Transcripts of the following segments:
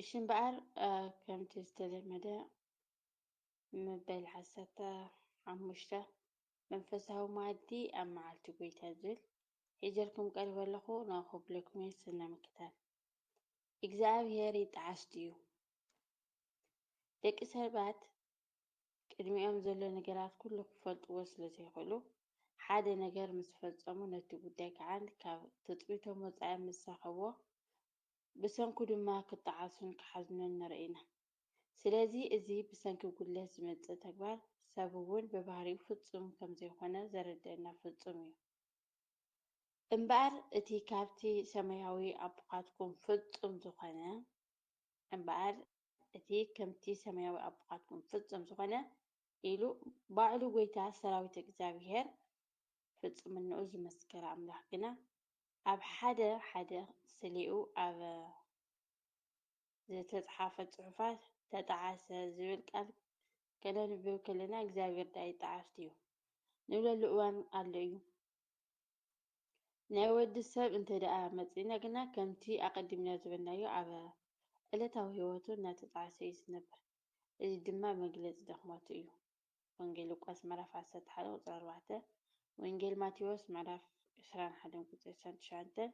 እሺ እምበኣር ከምቲ ዝተለመደ መበል ዓሰርተ ሓሙሽተ መንፈሳዊ መኣዲ ኣብ መዓልቲ ጎይታ ዝብል ሒጀልኩም ቀሪበ ኣለኹ ንኣኹብለኩም እየ ስነ ምክታል እግዚኣብሔር ይጠዓስ ድዩ ደቂ ሰባት ቅድሚኦም ዘሎ ነገራት ኩሉ ክፈልጥዎ ስለ ዘይኽእሉ ሓደ ነገር ምስ ፈጸሙ ነቲ ጉዳይ ከዓ ካብ ትፅቢቶም ወፃኢ ምስ ረኸብዎ ብሰንኩ ድማ ክጠዓሱን ክሓዝኑን ንርኢ ኢና። ስለዚ እዚ ብሰንኪ ጉድለት ዝመጽእ ተግባር ሰብ እውን ብባህሪኡ ፍጹም ከም ዘይኮነ ዘረድኣና ፍጹም እዩ። እምበኣር እቲ ካብቲ ሰማያዊ ኣቦኻትኩም ፍጹም ዝኾነ እምበኣር እቲ ከምቲ ሰማያዊ ኣቦኻትኩም ፍጹም ዝኾነ ኢሉ ባዕሉ ጐይታ ሰራዊት እግዚኣብሄር ፍጹምንኡ ዝመስከረ ኣምላኽ ግና ኣብ ሓደ ሓደ ስሌኡ ኣብ ዝተጽሓፈ ጽሑፋት ተጠዓሰ ዝብል ቃል ከነንብብ ከለና እግዚኣብሔር ድኣ ይጠዓስ ድዩ ንብለሉ እዋን ኣሎ እዩ። ናይ ወዲ ሰብ እንተድኣ መጺእና ግና ከምቲ ኣቐዲምና ዝበልናዮ ኣብ ዕለታዊ ሕይወቱ እናተጠዓሰ እዩ ዝነብር። እዚ ድማ መግለጺ ድኽመቱ እዩ። ወንጌል ሉቃስ ምዕራፍ ዓሰርተ ሓደ ቁጽሪ ኣርባዕተ፣ ወንጌል ማቴዎስ ምዕራፍ ዕስራን ሓደን ቁጽሪ ዕስራን ትሽዓተን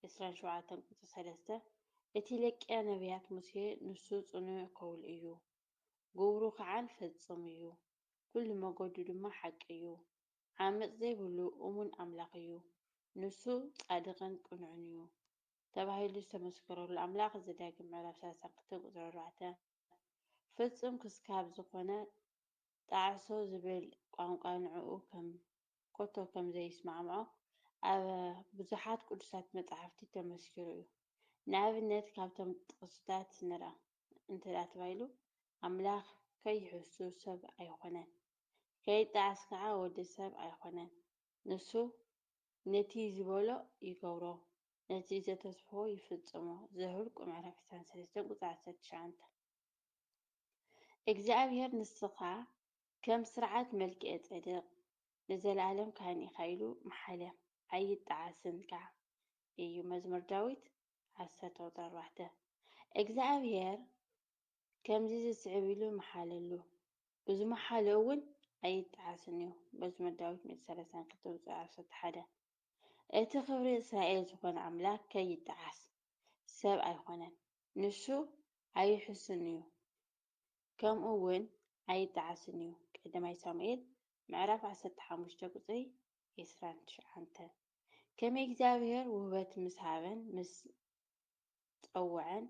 ዕስራን ሸውዓተን ቁጽሪ ሰለስተ፣ እቲ ለቅያ ነብያት ሙሴ ንሱ ጽኑዕ ከውል እዩ፣ ግብሩ ከዓን ፈጹም እዩ፣ ኩሉ መገዱ ድማ ሓቂ እዩ፣ ዓመጽ ዘይብሉ እሙን ኣምላኽ እዩ፣ ንሱ ጻድቕን ቅኑዕን እዩ ተባሂሉ ዝተመስከረሉ ኣምላኽ ዘዳግም ምዕራፍ ሰላሳን ክልተን ቁጽሪ ኣርባዕተ፣ ፍጹም ክስካብ ዝኾነ ጣዕሶ ዝብል ቋንቋ ንዕኡ ኮቶ ከም ዘይስማዕምዖ ኣብ ብዙሓት ቅዱሳት መጻሕፍቲ ተመስኪሩ እዩ። ንኣብነት ካብቶም ጥቕስታት ንርኣ እንተ ተባሂሉ ኣምላኽ ከይሕሱ ሰብ ኣይኾነን፣ ከይጣዓስ ከኣ ወዲ ሰብ ኣይኾነን፣ ንሱ ነቲ ዝበሎ ይገብሮ ነቲ ዘተስፍዎ ይፍጽሞ ዘሁልቍ ምዕራፍ ዕስራን ሰለስተን ቁጽሪ ዓሰርተ ትሽዓተ እግዚኣብሄር ንስኻ ከም ስርዓት መልክኤ ጼዴቅ ንዘለኣለም ካህን ኢኻ ኢሉ መሓለ ኣይጠዓስን ከኣ እዩ መዝሙር ዳዊት ዓሰርተ ቁጽሪ ኣርባዕተ እግዚኣብሄር ከምዚ ዝስዕብ ኢሉ መሓለሉ እዚ መሓለኡ እውን ኣይጠዓስን እዩ መዝሙር ዳዊት ምእቲ ሰለሳን ክልተ ቁጽሪ ዓሰርተ ሓደ እቲ ኽብሪ እስራኤል ዝዀነ ኣምላኽ ከይጠዓስ፣ ሰብ ኣይኰነን፣ ንሱ ኣይሕሱን እዩ፣ ከምኡውን ኣይጠዓስን እዩ፣ ቀዳማይ ሳሙኤል ምዕራፍ ዓሰርተ ሓሙሽተ ቍጽሪ ዕስራን ትሽዓተን። ከመይ እግዚኣብሄር ውህበት ምስ ሃበን ምስ ጸውዐን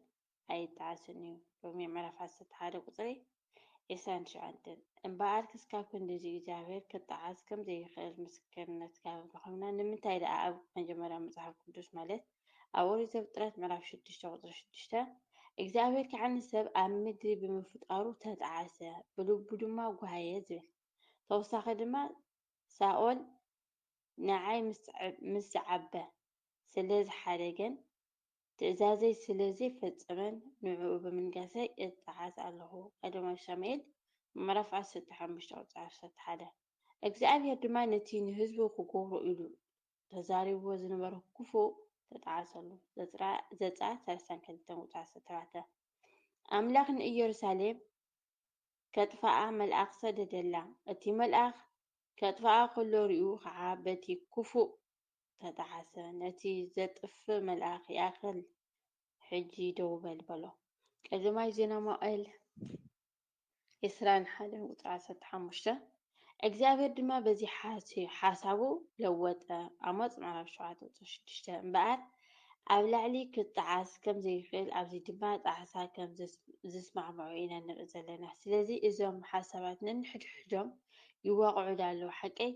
ኣይጠዓስን እዩ። ሮሜ ምዕራፍ ዓሰርተ ሓደ ቁጽሪ ዒስራን ትሽዓንተን እምበኣር ክስካብ ክንድዚ እግዚኣብሔር ክጠዓስ ከም ዘይኽእል ምስክርነት ካብ ረኸብና ንምንታይ ደኣ ኣብ መጀመርያ መጽሓፍ ቅዱስ ማለት ኣብ ኦሪት ዘፍጥረት ምዕራፍ ሽዱሽተ ቁጽሪ ሽዱሽተ እግዚኣብሔር ከዓ ንሰብ ኣብ ምድሪ ብምፍጣሩ ተጠዓሰ ብልቡ ድማ ጓሃየ ዝብል ተወሳኺ ድማ ሳኦል ንዓይ ምስ ዝዓበ ስለ ዝሓደገን ትእዛዘይ ስለ ዘይፈጸመን ንዕኡ ብምንጋሰይ እጠዓስ ኣሎኹ። ቀዳማይ ሳሙኤል ምዕራፍ ዓሰርተ ሓሙሽተ ቁጽሪ ዓሰርተ ሓደ። እግዚኣብሄር ድማ ነቲ ንህዝቡ ክገብሮ ኢሉ ተዛሪብዎ ዝነበሮ ክፉእ ተጠዓሰሉ። ዘጽኣት ሰለስተን ክልተን ቁጽሪ ዓሰርተ ኣርባዕተ። ኣምላኽ ንኢየሩሳሌም ከጥፍኣ መልኣኽ ሰደደላ። እቲ መልኣኽ ከጥፍኣ ከሎ ርእዩ ኸዓ በቲ ክፉእ ተጣዓሰ። ነቲ ዘጥፍእ መልኣኽ ይኣኽል ሕጂ ደው በል በሎ። ቀዳማይ ዜና መዋዕል ዕስራን ሓደን ቁጽሪ ዓሰርተ ሓሙሽተ እግዚኣብሔር ድማ በዚ ሓሳቡ ለወጠ። ኣሞጽ ምዕራፍ ሸውዓተ ቁጽሪ ሽዱሽተ እምበኣር ኣብ ላዕሊ ክጣዓስ ከም ዘይክእል ኣብዚ ድማ ጣዕሳ ከም ዝስማዕምዑ ኢና ንርኢ ዘለና። ስለዚ እዞም ሓሳባት ነንሕድሕዶም ይዋቕዑ ዶ ኣለዉ ሓቀይ?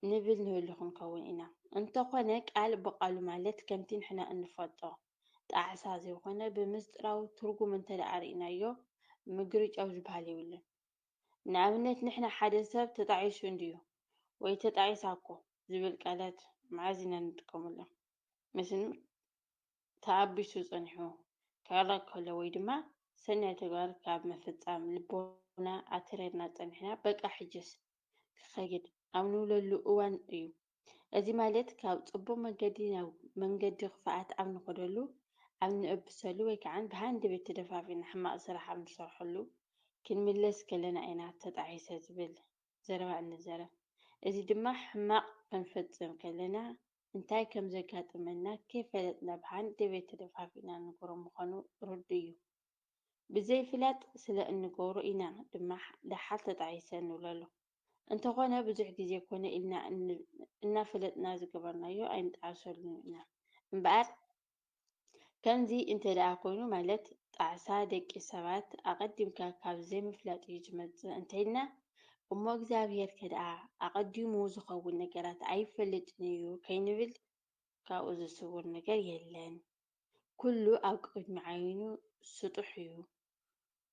ንብል ንህሉ ክንከውን ኢና። እንተኾነ ቃል ብቓሉ ማለት ከምቲ ንሕና እንፈልጦ ጣዕሳ ዘይኮነ ብምስጢራዊ ትርጉም እንተደኣ ርኢናዮ ምግርጫው ዝበሃል የብሉን። ንኣብነት ንሕና ሓደ ሰብ ተጣዒሱ እንድዩ ወይ ተጣዒሳ እኮ ዝብል ቃላት መዓዝ ኢና ንጥቀመሎም? ምስ ተኣቢሱ ጸኒሑ ክዕረቕ ከሎ ወይ ድማ ሰናይ ተግባር ካብ ምፍጻም ልቦና ኣትሪርና ጸኒሕና በቃ ሕጅስ ክኸይድ ኣብ ንብለሉ እዋን እዩ። እዚ ማለት ካብ ጽቡቕ መንገዲ ናብ መንገዲ ክፍኣት ኣብ ንኸደሉ፣ ኣብ ንእብሰሉ ወይ ከዓን ብሃንደበት ተደፋፊእና ሕማቕ ስራሕ ኣብ ንሰርሐሉ ክንምለስ ከለና ኢና ተጣዒሰ ዝብል ዘረባ እንዘረብ። እዚ ድማ ሕማቕ ክንፍጽም ከለና እንታይ ከም ዘጋጥመና ከይፈለጥና ብሃንደበት ተደፋፊእና ንንገሮ ምዃኑ ርዱእ እዩ። ብዘይፍላጥ ስለ እንገብሮ ኢና ድማ ደሓር ተጣዒሰ ንብለሉ። እንተኾነ ብዙሕ ግዜ ኮነ ኢልና እናፈለጥና ዝገበርናዮ ኣይንጠዓሰሉን ኢና። እምበኣር ከምዚ እንተደኣ ኮይኑ ማለት ጣዕሳ ደቂ ሰባት ኣቐዲምካ ካብ ዘይምፍላጥ እዩ ዝመጽእ እንተኢልና እሞ እግዚኣብሄር ከደኣ ኣቐዲሙ ዝኸውን ነገራት ኣይፈልጥን እዩ ከይንብል ካብኡ ዝስውር ነገር የለን። ኩሉ ኣብ ቅድሚ ዓይኑ ስጡሕ እዩ፣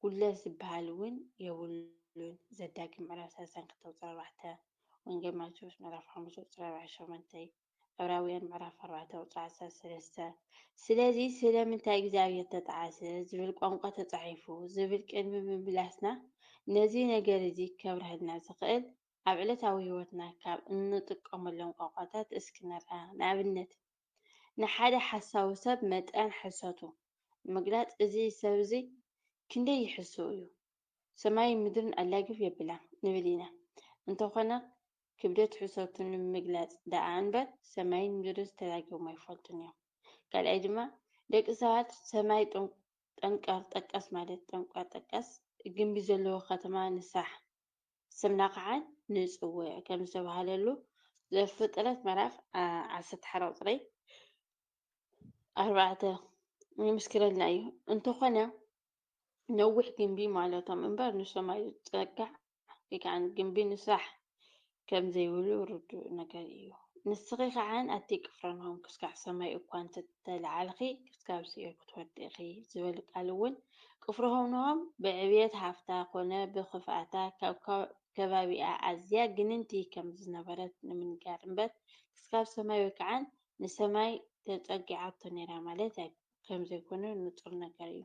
ጉድለት ዝበሃል እውን የብሉን፣ ዘዳግም ምዕራፍ ሰለስተን ክልተ ቁፅሪ ኣርባዕተ፣ ወንጌል ማቴዎስ ምዕራፍ ሓሙሽተ ቁፅሪ ኣርባዓን ሸሞንተይ፣ ዕብራውያን ምዕራፍ ኣርባዕተ ቁፅሪ ዓሰርተ ሰለስተ፣ ስለዚ ስለምንታይ እግዚኣብሔር ተጠዓሰ ዝብል ቋንቋ ተፃሒፉ ዝብል ቅድሚ ምምላስና ነዚ ነገር እዚ ከብረሀልና ዝኽእል ኣብ ዕለታዊ ሕይወትና ካብ እንጥቀመሎም ቋንቋታት እስኪ ንርኣ ንኣብነት ንሓደ ሓሳዊ ሰብ መጠን ሕሰቱ ንምግላጽ እዚ ሰብ'ዚ ክንደይ ይሕሱ እዩ ሰማይን ምድርን ኣላግብ የብላን ንብል ኢና እንተኾነ ክብደት ሕሰቱ ንምግላጽ ደኣ እንበር ሰማይን ምድርንስ ተላጊቦም ኣይፈልጡን እዮም ካልኣይ ድማ ደቂ ሰባት ሰማይ ጠንቀር ጠቀስ ማለት ጠንቀር ጠቀስ ግምቢ ዘለዎ ከተማ ንስራሕ ስምና ከዓ ንፅውዕ ከም ዝተብሃለሉ ዘፍጥረት ምዕራፍ ዓሰርተ ሓደ ቁፅሪ ኣርባዕተ ይምስክረልና እዩ። እንተኾነ ነዊሕ ግንቢ ማለቶም እምበር ንሶም ኣይጸጋዕ ወይ ከዓ ግንቢ ንስራሕ ከም ዘይብሉ ርዱእ ነገር እዩ። ንስኺ ኸኣ ኣቲ ቅፍርናሆም ክስካዕ ሰማይ እኳ እንተ ተላዓልኪ ክስካብ ሲኦል ክትወርዲ ኢኺ ዝበል ቃል እውን ቅፍርሆምንሆም ብዕብየት ሃፍታ ኮነ ብክፍኣታ ካብ ከባቢኣ ኣዝያ ግንንቲ ከም ዝነበረት ንምንጋር እምበር ክስካብ ሰማይ ወይ ከኣ ንሰማይ ተጸጊዓቶ ነይራ ማለት ከም ዘይኮነ ንጹር ነገር እዩ።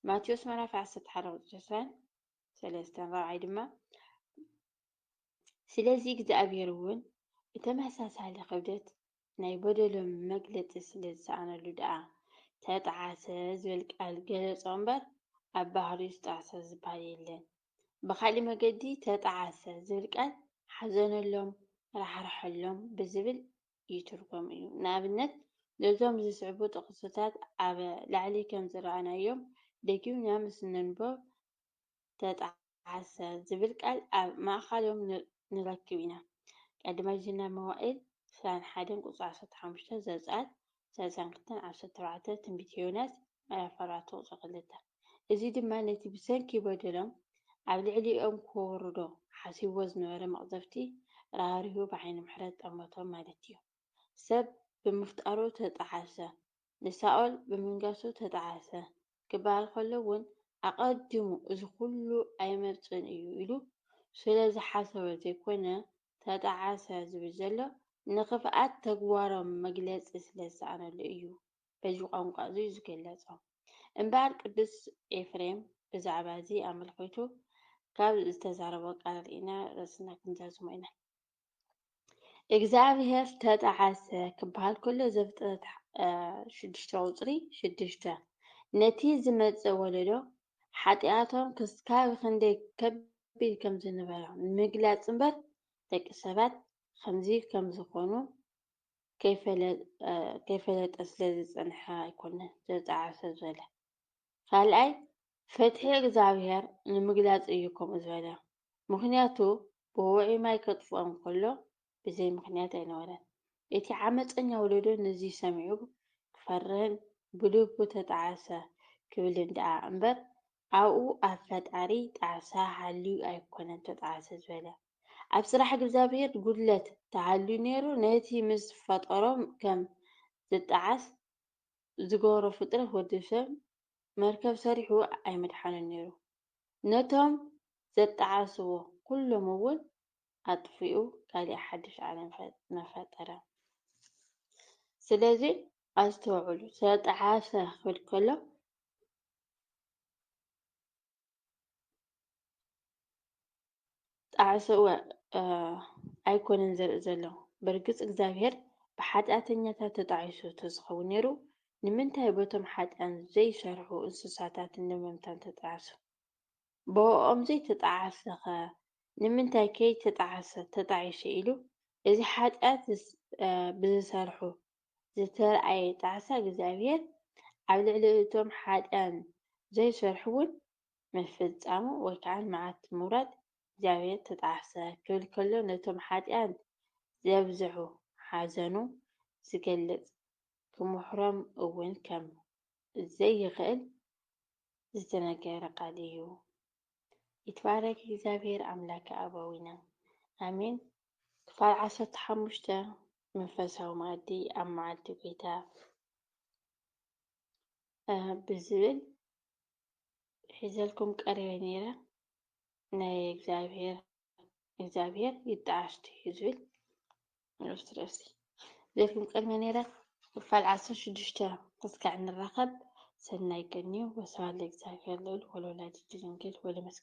ማቴዎስ ምዕራፍ ዓሰርተ ሓደ ቁፅሪ ዕስራን ሰለስተን ራብዓይ ድማ ስለዚ እግዚኣብሔር እውን ብተመሳሳሊ ክብደት ናይ በደሎም መግለፂ ስለ ዝሰኣነሉ ደኣ ተጣዓሰ ዝብል ቃል ገለፆ እምበር ኣብ ባህሪኡ ዝጣዕሰ ዝበሃል የለን። ብካሊእ መገዲ ተጣዓሰ ዝብል ቃል ሓዘነሎም፣ ራሕርሐሎም ብዝብል ይትርጎም እዩ። ንኣብነት፣ ነዞም ዚስዕቡ ጥቕስታት ኣብ ላዕሊ ከም ዝረኣናዮም ደጊምና ምስ ነንብቦም፣ ተጠዓሰ ዚብል ቃል ኣብ ማእካሎም ንረክብ ኢና፣ ቀዳማይ ዜና መዋእል ዕስራን ሓደን ቁጽሪ ዓሰርተ ሓሙሽተ፣ ዘጸኣት ሰለሳን ክልተን ዓሰርተ ኣርባዕተ፣ ትንቢት ዮናስ ኣያፈራቶ ጸቕልታ። እዚ ድማ ነቲ ብሰንኪ በደሎም ኣብ ልዕሊኦም ክወርዶ ሓሲብዎ ዝነበረ መቕዘፍቲ ራህሪሁ ብዓይኒ ምሕረት ጠመቶም ማለት እዩ። ሰብ ብምፍጣሩ ተጣዓሰ፣ ንሳኦል ብምንጋሱ ተጣዓሰ ክበሃል ከሎ እውን ኣቐዲሙ እዚ ኩሉ ኣይመጽእን እዩ ኢሉ ስለ ዝሓሰበ ዘይኮነ ተጣዓሰ ዝብል ዘሎ ንኽፍኣት ተግባሮም መግለጺ ስለ ዝሰኣነሉ እዩ። በዚ ቋንቋ እዙይ ዝገለጾ። እምበኣር ቅዱስ ኤፍሬም ብዛዕባ እዚ ኣመልኪቱ ካብ ዝተዛረቦ ቃል ርኢና ርእስና ክንዛዝሞ ኢና። እግዚኣብሔር ተጠዓሰ ክበሃል ከሎ ዘፍጥረት ሽዱሽተ ቁፅሪ ሽዱሽተ ነቲ ዝመጽእ ወለዶ ሓጢኣቶም ክስካብ ክንደይ ከቢድ ከም ዝነበረ ምግላጽ እምበር ደቂ ሰባት ከምዚ ከም ዝኾኑ ከይፈለጠ ስለ ዝጸንሐ ኣይኮነን ዝተጣዕሰ ዝበለ። ካልኣይ ፍትሒ እግዝኣብሄር ንምግላጽ እዩ ከምኡ ዝበለ። ምኽንያቱ ብውዑይ ማይ ከጥፍኦም ከሎ ብዘይ ምኽንያት ኣይነበረን። እቲ ዓመጸኛ ወለዶ ነዚ ሰሚዑ ክፈርህን ብልቡ ተጣዕሰ ክብልን ደኣ እምበር ኣብኡ ኣብ ፈጣሪ ጣዕሳ ሃልዩ ኣይኮነን ተጣዕሰ ዝበለ ኣብ ስራሕ እግዛብሄር ጉድለት ተሃልዩ ነይሩ ነቲ ምስ ፈጠሮ ከም ዝጣዓስ ዝገበሮ ፍጥረት ወድሰብ መርከብ ሰሪሑ ኣይምድሓኖን ነይሩ ነቶም ዘጣዓስዎ ኩሎም እውን ኣጥፊኡ ካሊእ ሓድሽ ዓለም መፈጠረ ስለዚ ኣስተውዕሉ ተጣዓሰ ክብል ከሎ ጣዕሰ እወ ኣይኮነን ዘርኢ ዘሎ በርግጽ እግዚኣብሔር ብሓጢኣተኛታት ተጣዒሱ ተዝኸውን ነይሩ ንምንታይ በቶም ሓጢኣን ዘይሰርሑ እንስሳታት ንምምታን ተጣዕሱ ብኦኦም ዘይተጣዓሰኸ ንምንታይ ከይተጣዓሰ ተጣዒሱ ኢሉ እዚ ሓጢኣት ብዝሰርሑ ዝተርኣየ ጣዕሳ እግዚኣብሄር ኣብ ልዕሊ እቶም ሓጥኣን ዘይሰርሑ'ውን ምፍጻሙ ወይ ከኣ መዓት ምውራድ እግዚኣብሄር ተጣዕሰ ክብል ከሎ ነቶም ሓጥኣን ዘብዝሑ ሓዘኑ ዝገልጽ ክምሕሮም እውን ከም ዘይክእል ዝተነገረ ቃል እዩ። ይትባረክ እግዚኣብሄር ኣምላከ ኣበዊነ ኣሜን ክፋል ዓሰርተ ሓሙሽተ፣ መንፈሳዊ መኣዲ ኣብ መዓልቲ ጐይታ ብዝብል ሒዘልኩም ቀሪበ ነይረ። ናይ እግዚኣብሔር እግዚኣብሔር ይጣዓስ ድዩ ዝብል ንኡስ ርእሲ ሒዘልኩም ቀሪበ ነይረ። ክፋል ዓሰርተ ሽዱሽተ እስካዕ ንራኸብ ሰናይ ቀን እዩ። ወስብሐት ለእግዚኣብሔር ልዑል ወለወላዲቱ ድንግል ወለመስቀሉ